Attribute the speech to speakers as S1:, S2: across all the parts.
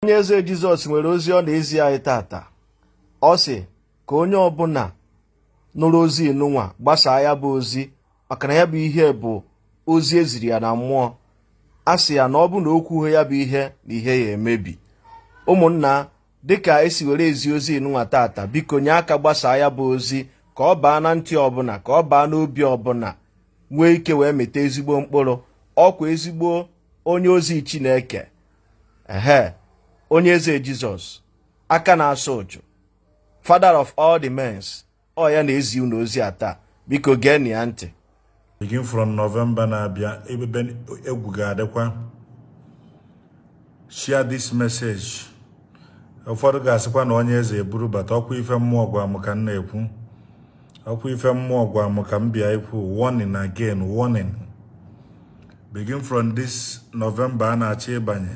S1: onye eze jizọs nwere ozi ọ na-ezi anyị taata ọ sị ka onye ọbụna nụrụ ozi nụnwa gbasaa ya bụ ozi maka na ya bụ ihe bụ ozi e ziri ya na mmụọ a sị ya na ọ bụrụ na o kwughị ya bụ ihe na ihe ya-emebi ụmụnna dịka e si were ezi ozi nụnwa taata biko nye aka gbasaa ya bụ ozi ka ọ baa na ntị ọbụna ka ọ baa n'obi ọbụna nwee ike wee mịta ezigbo mkpụrụ ọkwa ezigbo onye ozi chineke ehe onye eze jizọs aka na-asa ụchụ father of all the mens ọ ya na-ezi unu ozi a taa biko geenụ ya ntị begin from november na-abịa ebe egwu ga-adịkwa share this message ụfọdụ ga-asịkwa na onye eze eburu bata ọkwa ife mmụọ gwa m ka m na-ekwu ọkwa ife mmụọ gwa m ka m bịa ikwu warning again warning begin from this November a na-achọ ịbanye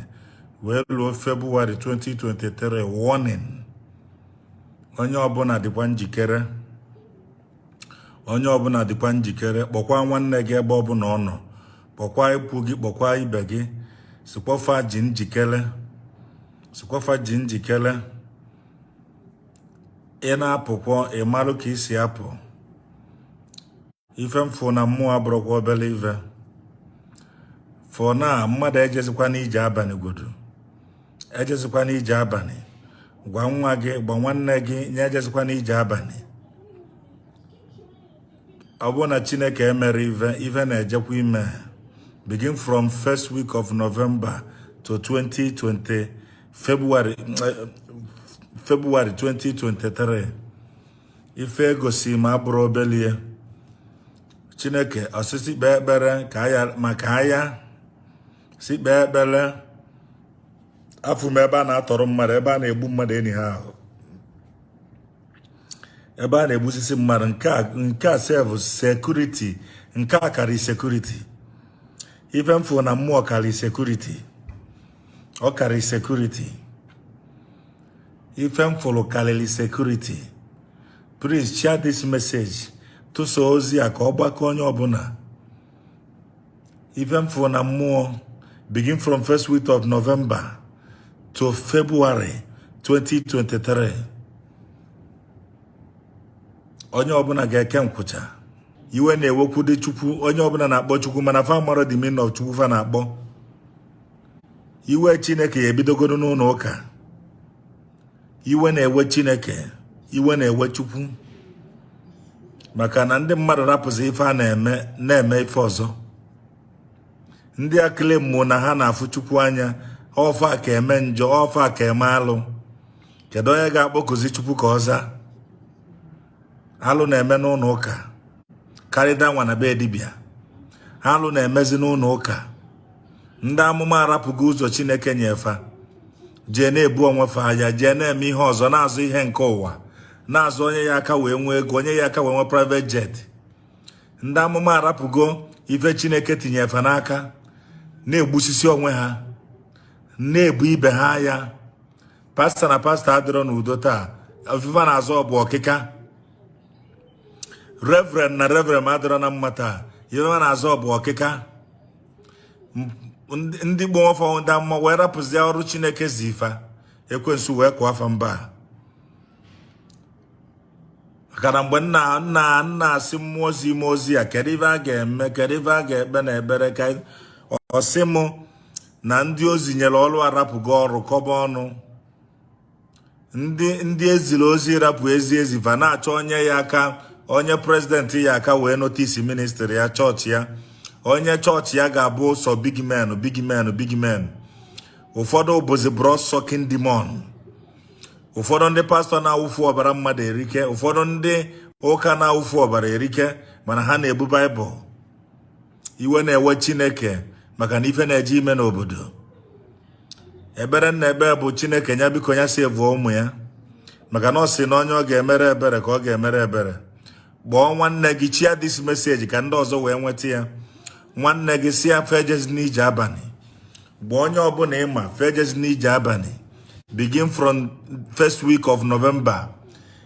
S1: wee ruo February 2023 warning onye ọbụna dịkwa njikere onye ọbụna dịkwa njikere kpọkwa nwanne gị ebe ọbụna ọ nọ kpọkwa ikwu gị kpọkwa ibe gị sịkwa fa dị njikere sịkwa fa dị njikere ị na-apụkwa ị marụ ka i si apụ ife m fụ na mmụọ abụrọkwa obele ife for now mmadụ ejezikwana ije abanị godu ejezikwana ije abanị gwa nwa gị gwa nwanne gị nya ejezikwana ije abanị ọ bụrụ na chineke emerọ ife ife na-ejekwa ime begin from first week of november to 2020 february eh, february 2023 ife e gosi m abụrọ obele ife chineke ọ sị sị kpee ekpere ka aya maka aya sị kpee ekpere afụ m ebe a na-atọrọ mmadụ ebe a na-egbu mmadụ anyhow ebe a na-egbusisi mmadụ nke a sef security nke a karị security ife m fụ na mmụọ karị security ọ karị security ife m fụrụ karịrị security please share this message tụsa ozi a ka ọ gbakọ onye ọbụna ife m fụrụ na mmụọ begin from first week of November to February 2023 onye ọbụna ga-eke nkwụcha iwe na-ewekwu dị chukwu onye ọbụna na-akpọ chukwu mana fa amarọ the meaning of chukwu fa na-akpọ iwe chineke ya ebidogoro n'ụnọ ụka iwe na-ewe chineke iwe na-ewe chukwu maka na ndị mmadụ rapụzi ife a na-eme na-eme ife ọzọ ndị akịlị mmụọ na ha na-afụ chukwu anya ọ fa ka eme njọ ọ fa ka eme alụ kedu onye ga-akpọkụzi chukwu ka ọ zaa alụ na-eme n'ụnọ ụka karịa nwa na be dibia alụ na-emezi n'ụnọ ụka ndị amụma arapụgo ụzọ chineke nye fa jee na-ebu onwe fa aya jee na-eme ihe ọzọ na-azọ ihe nke ụwa na-azọ onye ya-aka wee nwee ego onye ya-aka wee nwee private jet ndị amụma arapụgo ife chineke tinye fa n'aka na-egbusisi onwe ha na-ebu ibe ha aya. pastọ na pastọ adịrọ n'udo taa ife fa na-azọ bụ ọkịka reverend na reverend adịrọ na mma taa ife fa na-azọ bụ ọkịka ndị kpọ onwe fa ndị amụma wee rapụzie ọrụ chineke zi fa ekwensu wee kụọ fa mba maka na mgbe m na na na-asị mmụọ ozi mmụọ ozi a kedu ife a ga-eme kedu ife a ga-ekpe na ebere ka ọ sị m na ndị ozi nyere ọrụ arapụgo ọrụ kọba ọnụ ndị ndị e ziri ozi rapụ ozi e zi va na-achọ onye ya-aka onye president ya-aka wee notice ministry ya chọọchị ya onye chọọchị ya ga-abụ sọ big men big men big men ụfọdụ bụzi blood sucking demon ụfọdụ ndị pastọ na-awụfu ọbara mmadụ erike ụfọdụ ndị ụka na-awụfu ọbara erike mana ha na-ebu baịbụl iwe na-ewe chineke maka na ife na-eje ime n'obodo ebere nna ebe bụ chineke ya biko ya si evuo ụmụ ya maka na ọ sị na onye ọ ga-emere ebere ka ọ ga-emere ebere kpọọ nwanne gị share this message ka ndị ọzọ wee nweta ya nwanne gị sị ya fa ejezina ije abanị gwa onye ọbụna ị ma fa ejezina ije abanị begin from first week of November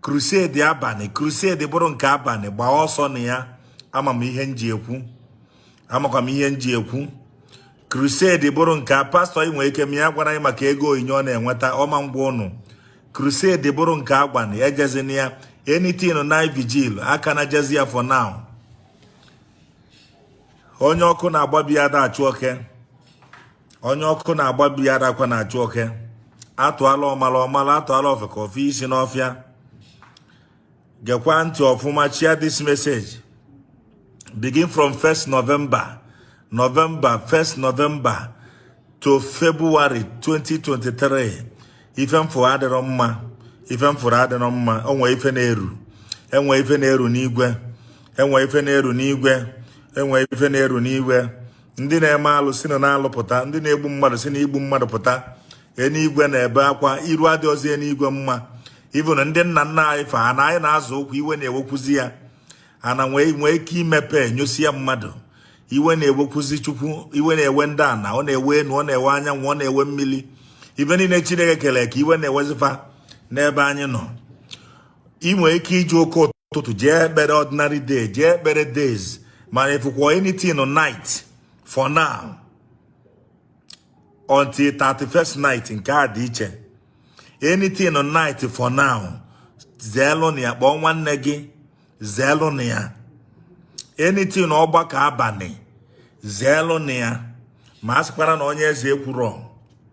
S1: crusade abanị crusade bụrụ nke abanị gbaa ọsọ na ya ama m ihe m ji ekwu amakwa m ihe m ji ekwu crusade bụrụ nke a pastọ gị nwere ike ọ ma agwara anyị maka ego onyinye ọ na-enweta ọ ma agwa ụnụ crusade bụrụ nke abanị ejezina ya anything night vigil aka na jezi ya for now onye ọkụ na-agba be ya ada achụ oke onye ọkụ na-agba be ya adakwa na-achụ oke a tụala ọmala ọ mala a tụala ofeke o fee isi n'ọfịa gekwa ntị ọfụma share this message begin from 1st November November 1st November to February 2023 ife m fụrụ adịrọ mma ife m fụrụ adịrọ mma o nwe ife na-eru enwe ife na-eru n'igwe enwe ife na-eru n'igwe enwe ife na-eru n'igwe ndị na-eme alụ si na n'alụ pụta ndị na-egbu mmadụ si na igbu mmadụ pụta enuigwe na-ebe akwa iru adịrọzi enuigwe mma even ndị nna nna anyị fa ana anyị na-azọ ụkwụ iwe na-ewekwuzi ya ana nwee ike imepe nyosia mmadụ iwe na-ewekwuzi chukwu iwe na-ewe ndị ana ọ na-ewe enu ọ na-ewe anyanwụ ọ na-ewe mmili ife niine chineke kelụ eke iwe na-ewezi fa n'ebe anyị nọ ị nwere ike iji oke ụtụtụ jee ekpere ordinary day jee ekpere days mana ị fụkwa anything night for now until 31st night nke a dị iche anything night for now zeelụnụ ya gwa nwanne gị zeelụnụ ya anything ọgbakọ abanị zeelụnụ ya ma a sịkwara na onye eze ekwurọ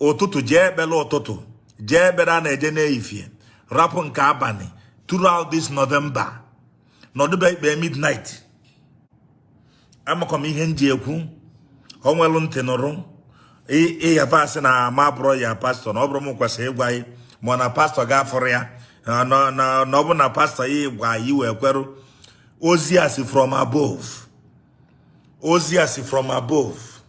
S1: ụtụtụ jee ekpere ụtụtụ jee ekpere a na-eje n'efifie rapụ nke abanị throughout this November nọdụ be ị kpee midnight amakwa m ihe m ji ekwu ọ nwelụ ntị nụrụ ị ya-asị na m abụrọ your pastor na ọ bụrọ m kwesịrị ịgwa gị ma na pastor gị afụrọ ya na ọ bụrụ na pastor yi gwa yi i wee kwerụ ozi a si from above ozi a si from above